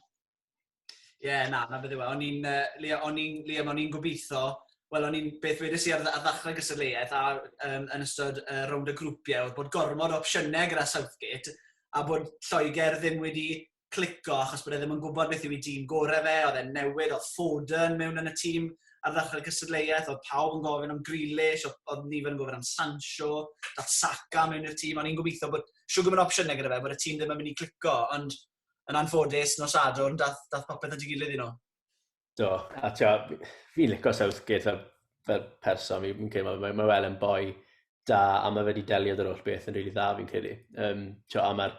Ie, yeah, na, na beth yw e. O'n i'n, uh, Liam, o'n i'n, Liam, o'n i'n gobeithio, wel, o'n i'n beth wedys i ar, ar ddechrau gystadleuaeth a um, yn ystod uh, rownd y grwpiau, oedd bod gormod o opsiynau gyda Southgate, a bod Lloegr ddim wedi clico achos bod e ddim yn gwybod beth yw ei dîm gorau fe, oedd e'n newid, oedd Foden mewn yn y tîm ar ddechrau cystadleuaeth, oedd pawb yn gofyn am Grealish, oedd, oedd nifer yn gofyn am Sancho, dath Saka mewn i'r tîm, o'n i'n gobeithio bod siw gwybod opsiynau gyda fe, bod y tîm ddim yn mynd i clico, ond yn anffodus, nos Sadwrn, dath, dath popeth at ei gilydd i nhw. Do, a tio, fi'n licio Southgate fel, fel person, fi'n credu, mae, mae wel yn boi da, a mae wedi delio dy'r holl beth yn rili really dda fi'n credu. Um, tio, a mae'r,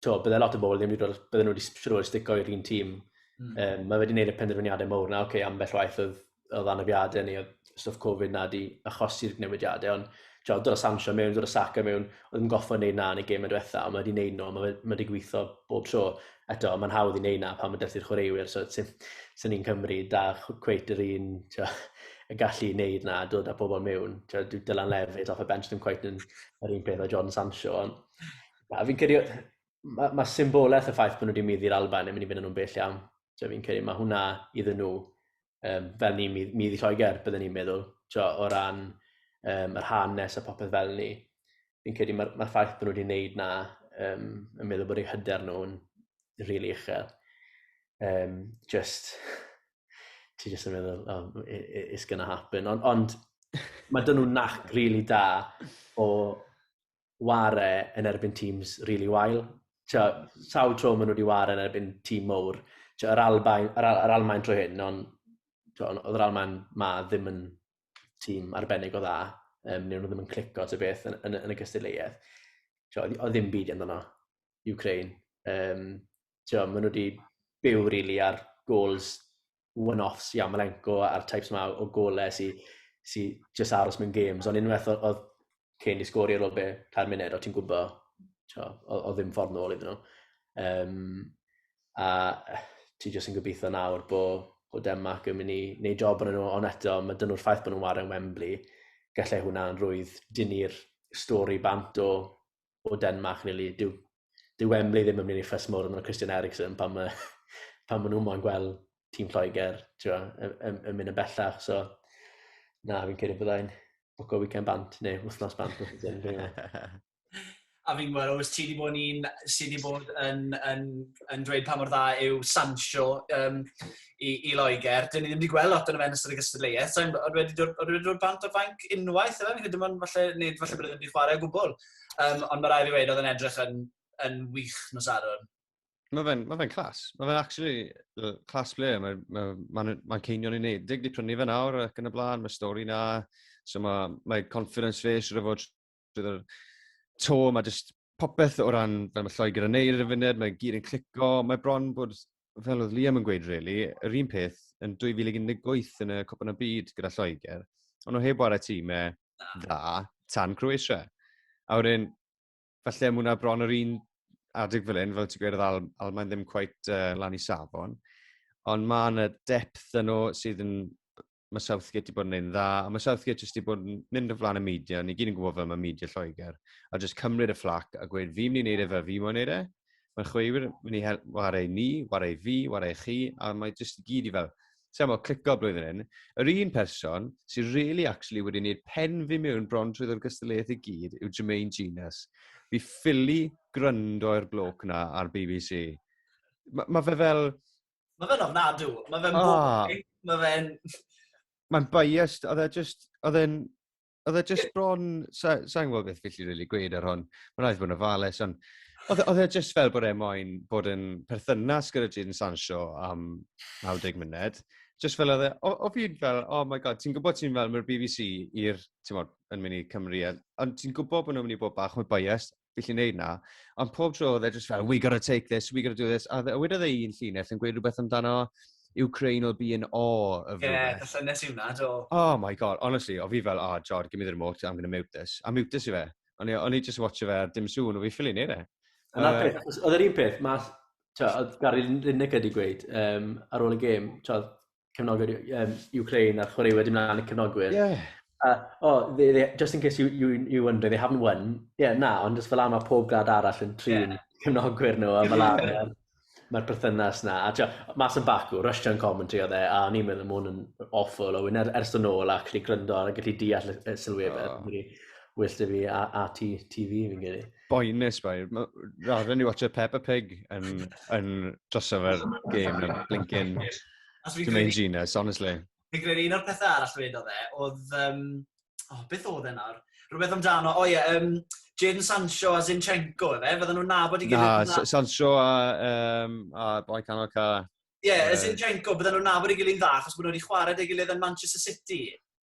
tio, bydde lot o bobl ddim wedi dod, bydde nhw wedi siwr stico i'r un tîm. Mm. Um, mae wedi gwneud y penderfyniadau mowr na, oce, okay, ambell waith oedd oedd anafiadau ni, oedd stwff Covid na di achosi'r newidiadau, ond ti'n dod o Sancho mewn, dod o Saka mewn, oedd yn goffa wneud na yn y gêm yn diwetha, ond mae wedi wneud nhw, mae wedi gweithio bob tro. Eto, mae'n hawdd i wneud na pan mae dyrthu'r chwaraewyr, so sy'n sy ni'n Cymru, da cweit yr un, tio, y gallu i wneud na, dod â pobl mewn. Tio, dwi dylan lefyd, off y bench ddim cweit yn yr un peth o John Sancho, ond na, fi'n cyrraedd, mae, mae symbolaeth y ffaith bod nhw wedi mynd i'r Alban yn mynd i fynd nhw'n bell iawn. So, fi'n credu mae hwnna iddyn nhw, um, fel ni'n mynd i Lloegr, byddwn ni'n meddwl, so, o ran um, yr hanes a popeth fel ni. Fi'n credu mae'r ma ffaith bod nhw wedi gwneud na um, yn meddwl bod eu hyder nhw'n rili really uchel. Um, just, ti just yn meddwl, oh, it's gonna happen. Ond on, mae dyn nhw'n nac rili really da o ware yn erbyn teams really wael. Tio, sawl tro maen nhw wedi ware yn erbyn tîm mowr. Tio, yr Albain, yr, Al, yr Almain trwy hyn, ond oedd yr Almain ma ddim yn tîm arbennig o dda. Um, neu nhw ddim yn clico ty beth yn, yn, yn y gystadleuaeth. Tio, oedd ddim byd yn dda. Ukraine. Um, tio, maen nhw wedi byw rili really ar gols one-offs i Amalenko a'r types yma o gole sy, sy just aros mewn games, ond unwaith oedd Kane i sgori ar ôl be, cael munud, o ti'n gwybod, o, o ddim ffordd nôl iddyn nhw. Um, a ti jyst yn gobeithio nawr bod bod Denmark yn mynd i wneud job yn nhw, ond eto, mae dyn nhw'r ffaith bod nhw'n wario yn Wembley, gallai hwnna'n rwydd dynnu'r stori bant o o Denmark, neu dyw, dyw Wembley ddim yn mynd i ffys mor yn y Christian Eriksen pan mae, pan mae nhw moyn gweld tîm Lloegr twa, yn, yn, yn mynd yn bellach. So, na, fi'n credu byddai'n bwco weekend bant, neu wythnos bant. a fi'n gweld, oes ti wedi bod yn un sydd wedi bod yn, yn, yn dweud pa mor dda yw Sancho. Um, i, i Loegr. Dyn ni ddim wedi gweld lot o'n fe yn ystod y gystadleuaeth. Sa'n oedd wedi dod, oedd wedi dod bant o'r fainc unwaith, efe? Fi'n credu bod falle, nid falle bod e ddim wedi chwarae o gwbl. Um, ond mae rai fi wedi oedd yn edrych yn, yn wych nos arwyn. Mae fe'n ma fe clas. Mae fe'n actually uh, clas ble. Mae'n ma, ma, ma, ma ceinion i wneud. Dig di prynu fe nawr ac yn y blaen. Mae stori na. So mae, mae confidence fe sydd wedi fod bydd yr to, mae jyst popeth o ran, fel mae Lloegr yn neud ar y funud, mae gyd yn clico, mae bron bod, fel oedd Liam yn gweud, really, yr un peth yn 2018 yn y Cwpan y Byd gyda Lloegr, ond o heb wario tîmau dda tan Croatia. A wedyn, falle mae hwnna bron yr un adeg fel un, fel ti'n gweud, oedd Al Almain ddim cweit uh, lan i safon, ond mae yna depth yn o sydd yn mae Southgate wedi bod yn ein dda, a mae Southgate jyst wedi bod yn mynd yn flan y media, ni gyd yn gwybod fel mae media Lloegr, a jyst cymryd y fflac a gweud fi'n mynd i wneud e fel fi mo'n wneud e, mae'n chweifwyr mynd i wario ni, wario fi, wario chi, a mae jyst i gyd i fel, ti'n meddwl, clico blwyddyn hyn. Yr un person sy'n really actually wedi gwneud pen fi mewn bron trwy ddod gystadleuaeth i gyd yw Jermaine Genus. Fi ffili gryndo i'r bloc na ar BBC. Mae ma fe fel, Mae fe'n ofnadw. Mae fe'n ah. boring. Mae fe'n... Mae'n biased. Oedd e just... Oedd e'n... Oedd e just bron... Sa'n sa gwybod beth felly rili gweud ar hwn. Mae'n rhaid bod yn ofalus, ond... Oedd e, e just fel bod e moyn bod yn perthynas gyda Jadon Sancho am 90 munud. Just fel oedd e... O, o fi'n fel, oh my god, ti'n gwybod ti'n fel, mae'r BBC i'r... Ti'n bod, yn mynd i Cymru. Ond ti'n gwybod bod nhw'n mynd i bod bach mwy biased. gallu gwneud na. Ond pob tro oedd e just fel, we gotta take this, we gotta do this. A wedodd e un llinell yn gweud rhywbeth amdano Ukraine will be in awe of yeah, rhywbeth. Ie, y llynnes i wna, do. Oh my god, honestly, o fi fel, oh, Jod, give me the remote, I'm gonna mute this. A mute this i fe. O'n i just watch fe ar dim sŵn, o fi ffili neud e. Yna uh, peth, oedd yr un peth, mae, oedd Gary Lineker wedi gweud um, ar ôl y gêm, cefnogwyr um, Ukraine a chwarae wedi mlaen y cefnogwyr. Yeah. Uh, oh, they, they, just in case you, you, you wonder, they haven't won. Yeah, na, ond just fel am a pob grad arall yn trin yeah. cefnogwyr nhw a fel am yeah. mae'r perthynas na. A tio, mas yn bacw, Russian commentary oedd e, a ni'n meddwl mwyn yn awful, o wyn er, ers yn ôl ac ni gryndo a gallu deall y sylwebau. Oh. Wyll dy fi a, a ti, ti fi fi'n gyrru. boenus bai. Rather ni watch a Peppa Pig yn, yn drosof ar game yn blinkin Jermaine Genius, honestly. Fi'n credu un o'r pethau arall fe oedd e, oedd... Um, oh, beth oedd e nawr? Rhywbeth amdano, o oh, ie, yeah, um, Jaden Sancho a Zinchenko, efe? Fydden nhw'n nabod i gilydd? Na, Sancho a, um, a boi canol ca. Ie, yeah, uh, Zinchenko, bydden nhw'n nabod i gilydd dda, achos bod nhw wedi chwarae dy gilydd yn Manchester City.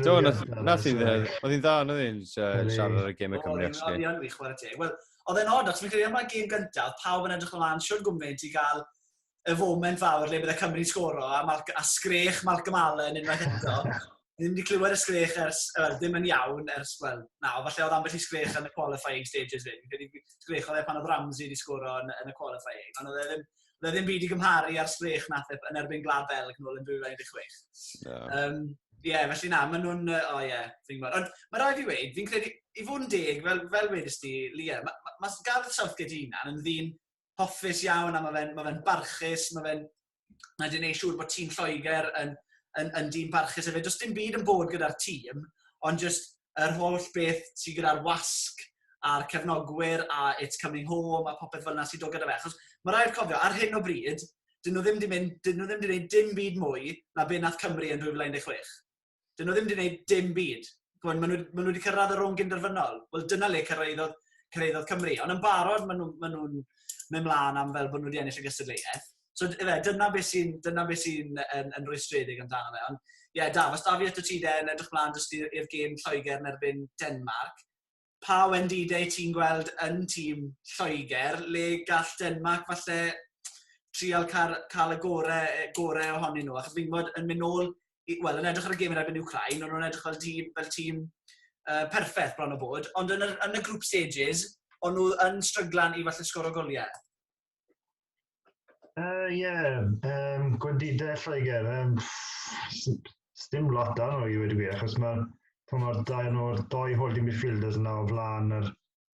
Do, nath i dde. Oedd hi'n dda, oedd hi'n siarad ar y gym y Cymru, actually. Oedd hi'n fi chwarae teg. Wel, oedd e'n odd, achos fi'n credu am mae'r gym gyntaf, pawb yn edrych ymlaen, siwr gwmwneud i gael y foment fawr le bydde Cymru'n sgoro, a, Mal a sgrech Malcolm Allen unwaith eto. Ddim wedi clywed y sgrech ers, well, ddim yn iawn ers, wel, na, o falle oedd ambell i sgrech yn y qualifying stages fe. Fi'n credu sgrech oedd e pan oedd Ramsey wedi sgoro yn, yn y qualifying, ond oedd e ddim, Oedd ddim byd i gymharu ar sgrech nath e yn erbyn Glad Belg nôl yn 2016. No. Um, Ie, yeah, felly na, maen nhw'n... O oh, ie, yeah, fi'n gwybod. Ond mae rhaid i weid, fi'n credu, i fod yn deg, fel, fel wedys ti, Lia, mae ma, ma Gareth Southgate hunan yn ddyn hoffus iawn, a mae fe'n ma fe barchus, mae fe'n... Mae fe'n ei siŵr bod tîm Lloegr yn, yn, yn dîm barchus hefyd. Does dim byd yn bod gyda'r tîm, ond just yr holl beth sy gyda'r wasg a'r cefnogwyr a It's Coming Home a popeth fel yna sy'n dod gyda fe. Achos mae rhaid cofio, ar hyn o bryd, dyn nhw ddim wedi mynd, dyn nhw ddim wedi gwneud dim byd mwy na be nath Cymru yn 2016. Dyn nhw ddim wedi gwneud dim byd. Gwyn, maen nhw, maen nhw wedi cyrraedd yr rhwng gynderfynol. Wel, dyna le cyrraeddodd, cyrraeddodd Cymru. Ond yn barod, maen nhw'n ma nhw, ma nhw mewn mlaen am fel bod nhw wedi ennill y gystadleuaeth. So ife, dyna beth sy'n dyna beth sy'n yn, yn rwystredig amdano fe. Ond ie, yeah, Daf, os da fi eto ti de yn edrych mlaen jyst i'r gêm Lloegr yn erbyn Denmark, pa wendidau ti'n gweld yn tîm Lloegr le gall Denmark falle trial cael, cael y gorau, e, gorau ohonyn nhw? Achos fi'n gwybod yn mynd nôl, wel, yn edrych ar y gêm yn erbyn Ukraine, ond nhw'n edrych fel tîm, fel tîm uh, perffaith bron o bod, ond yn y, yn y group stages, ond nhw yn stryglan i falle sgoro goliau. Uh, yeah, um, gwendidau Lloegr. Um, Sdim lot da nhw i wedi gwir, achos mae'r mae'r dau nhw'r doi holding midfielders yna o flaen yr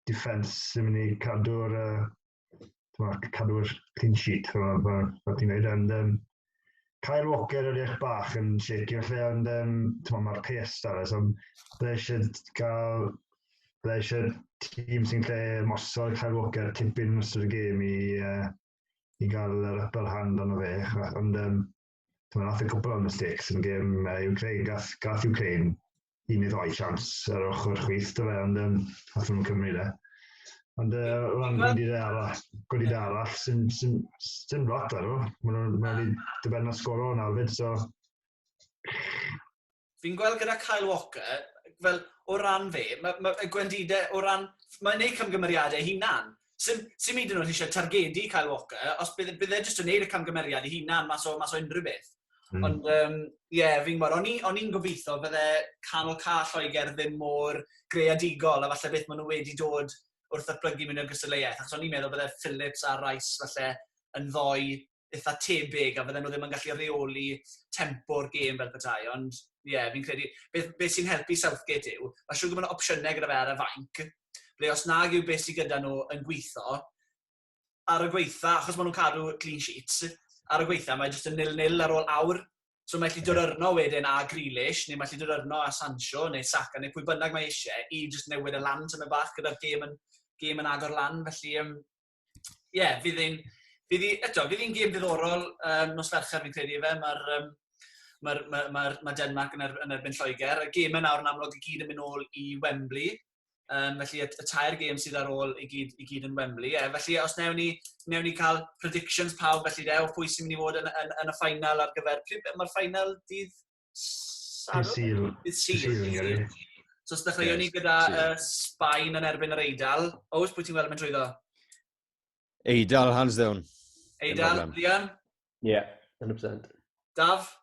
defence sy'n mynd i cadw'r uh, cadw'r clean sheet, fel ti'n gwneud, and um, Kyle Walker yr eich bach yn shaky felly, ond um, ti'n mae'r pace da fe, so dda eisiau cael, dda eisiau tîm sy'n lle mosod Kyle Walker tipyn yn ystod y gêm i, uh, i gael yr upper hand ond o fe, ond um, ti'n meddwl, nath y cwpl o'n mistakes yn gêm uh, Ukraine, gath, gath Ukraine i mi roi siams ar ochr chwith dy fe, ond um, allan nhw'n Cymru de. Ond uh, o ran gwendidau arall, gwendidau arall, sy'n sy sy lot ar nhw. Mae nhw'n ma nhw dyben na sgoro yn arfyd, so... Fi'n gweld gyda Kyle Walker, fel o ran fe, mae ma, gwendidau o ran... Mae'n neud cymgymeriadau hunan, Sim, sim hyd yn oed eisiau targedu Kyle Walker, os bydd, bydd e jyst yn neud y camgymeriad i hunan mas o, mas o unrhyw beth. Mm. Ond, ie, um, yeah, fi'n gwybod, o'n i'n i gobeithio bydde canol cael Lloegr ddim mor greadigol, a falle beth maen nhw wedi dod wrth y plygu mynd i'r gystadleuaeth, achos o'n i'n meddwl bydde Phillips a Rice falle yn ddoi eitha tebyg a fydden nhw ddim yn gallu reoli tempo'r gêm fel petai, ond ie, yeah, fi'n credu, beth, beth sy'n helpu Southgate yw, mae siwr gwybod opsiynau gyda fe ar y fainc, ble os nag yw beth sy'n gyda nhw yn gweithio, ar y gweitha, achos maen nhw'n cadw clean sheets, ar y gweitha mae jyst yn nil-nil ar ôl awr, so mae lli dod arno wedyn a Grealish, neu mae lli dod arno a Sancho, neu Saka, neu pwy bynnag mae eisiau, i jyst newid y lan tyma bach gyda'r gêm yn, gêm yn agor lan, felly um, ie, yeah, fydd hi'n... Fydd hi, eto, fydd hi'n gêm ddiddorol um, nos Fercher fi'n credu fe. Mae'r um, mae'r ma, ma, ma Denmark yn, er, yn erbyn Lloegr. Y gêm yn awr yn amlwg i gyd yn mynd ôl i Wembley. Um, felly y, y tair gêm sydd ar ôl i gyd, i gyd yn Wembley. Yeah, felly os newn ni, newn ni cael predictions pawb felly de, o pwy sy'n mynd i fod yn, yn, yn y ffainal ar gyfer... Pryd mae'r ffainal dydd Dydd Sul. Dydd Sul. So, os dechreuwn ni gyda uh, Sbaen yn erbyn yr Eidal. Oes, pwy ti'n weld yn mynd trwyddo? Eidal, hands down. Eidal, Liam? Ie, yeah, 100%. Daf?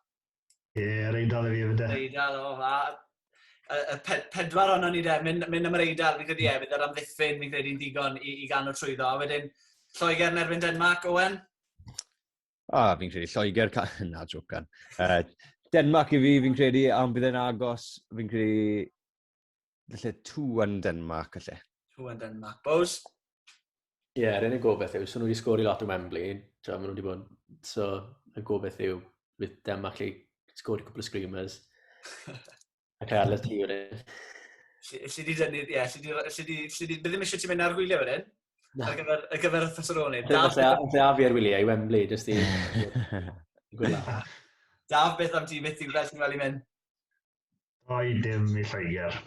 Ie, yeah, yr Eidal i fi efo de. Eidal, o, fa. Y pedwar o'n ni de, mynd, mynd am yr Eidal, fi'n credu e, bydd yr amddiffyn, fi'n credu'n digon i, i ganol trwyddo. A wedyn, Lloegr yn erbyn Denmark, Owen? A, ah, fi'n credu Lloegr, ca... na, jocan. Uh, Denmark i fi, fi'n credu, am bydd e'n agos, fi'n credu, felly tu yn Denmark, felly. Tu yn Denmark. Bos? Ie, yeah, rhaid yn gobeith yw, so nhw wedi sgori lot o Wembley, tra maen nhw wedi bod, so yn gobeith yw, bydd Denmark lle sgori cwpl o screamers. Ac ar y ti wedyn. Lle di dynnu, ie, lle di, lle di, lle di, ddim eisiau ti mynd ar gwyliau wedyn? Ar gyfer, ar gyfer y Thessaloni. Lle a fi ar wyliau i Wembley, jyst i... Daf, beth am ti, beth ti'n gweld ti'n gweld i mynd? Oi, dim i Lloegr.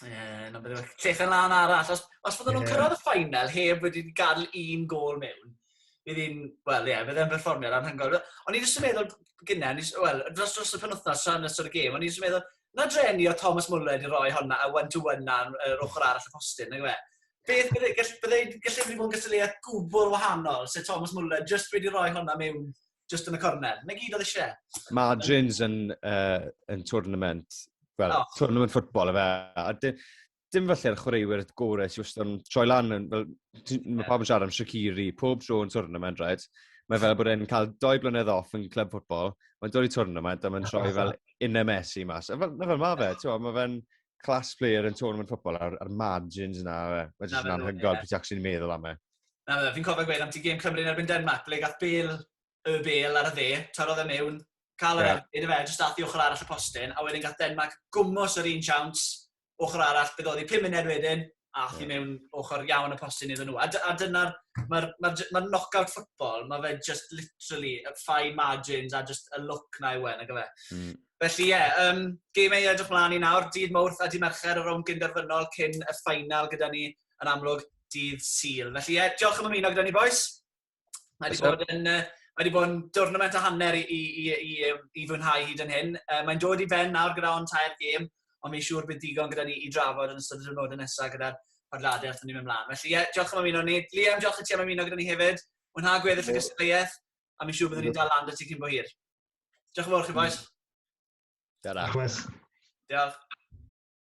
Yeah, no, Llechen lan arall. Os, os fydden nhw'n cyrraedd y ffainal heb wedi gadael un gol mewn, Bydd hi'n, wel ie, bydd e'n berfformiad anhygoel. O'n i jyst yn meddwl gynnau, wel, dros, dros y penwthnos yn ystod y gêm, o'n i jyst yn meddwl, na dreni o Thomas Muller wedi rhoi honna a one-to-one na yr ochr arall y postyn, nag yw e? Beth bydde, gall, bydde, gallu wedi bod yn gystadleuaeth gwbl wahanol, sef Thomas Muller jyst wedi rhoi honna mewn jyst yn y cornel. Na gyd oedd eisiau. Margins yn, uh, yn tournament, well, oh. tournament football efe. dim falle'r chwaraewyr gorau sy'n wastad yn troi lan. Fel, mae pawb yn siarad am Shaqiri, pob tro yn tournament, right? Mae fel bod e'n cael doi blynedd off yn cleb ffwtbol, mae'n dod i tournament a mae'n troi fel un MS i mas. Fel, na fel mae fe, ti'n mae fe'n class player yn tournament ffwtbol a'r, ar margins yna, mae jyst yn anhygoel beth ac sy'n meddwl am e. Na fe, fi'n cofio gweud am ti gêm Cymru yn erbyn Denmark, ble gath Bale y Bale ar y dde, tarodd e mewn, cael yr yeah. erbyn, fe, jyst ath i ochr arall y postyn, a wedyn gath Denmark gwmwys yr un siawns, ochr arall, bydd oedd i pum munud wedyn, a oedd i mewn ochr iawn y postyn iddyn nhw. A, a dyna'r, mae'r ma, ma, ma knockout football, mae fe just literally, y fine margins a just y look na yw e'n, ag fe. Mm. Felly ie, yeah, um, gym ei edrych mlaen i nawr, dydd Mawrth a dydd Mercher, y rown gynderfynol cyn y ffainal gyda ni yn amlwg dydd Sil. Felly ie, yeah, diolch am ymuno gyda ni, boys. Mae wedi bod yn, uh, mae wedi bod yn dwrnament a hanner i, i, i, i, i fwynhau hyd yn hyn. Uh, mae'n dod i ben nawr gyda o'n tair gêm, ond mi'n siŵr bydd digon gyda ni i drafod yn ystod y diwrnodau nesaf gyda'r podladau wrth ni'n mynd mlaen. Felly, ie, yeah, diolch am ymuno ni. Liam, diolch i ti am ymuno gyda ni hefyd. Mwynha gweddill y gystadleuaeth, a mi'n siŵr byddwn ni'n dal land y ti cyn bo hir. Diolch yn fawr chi, boes. Diolch. Diolch.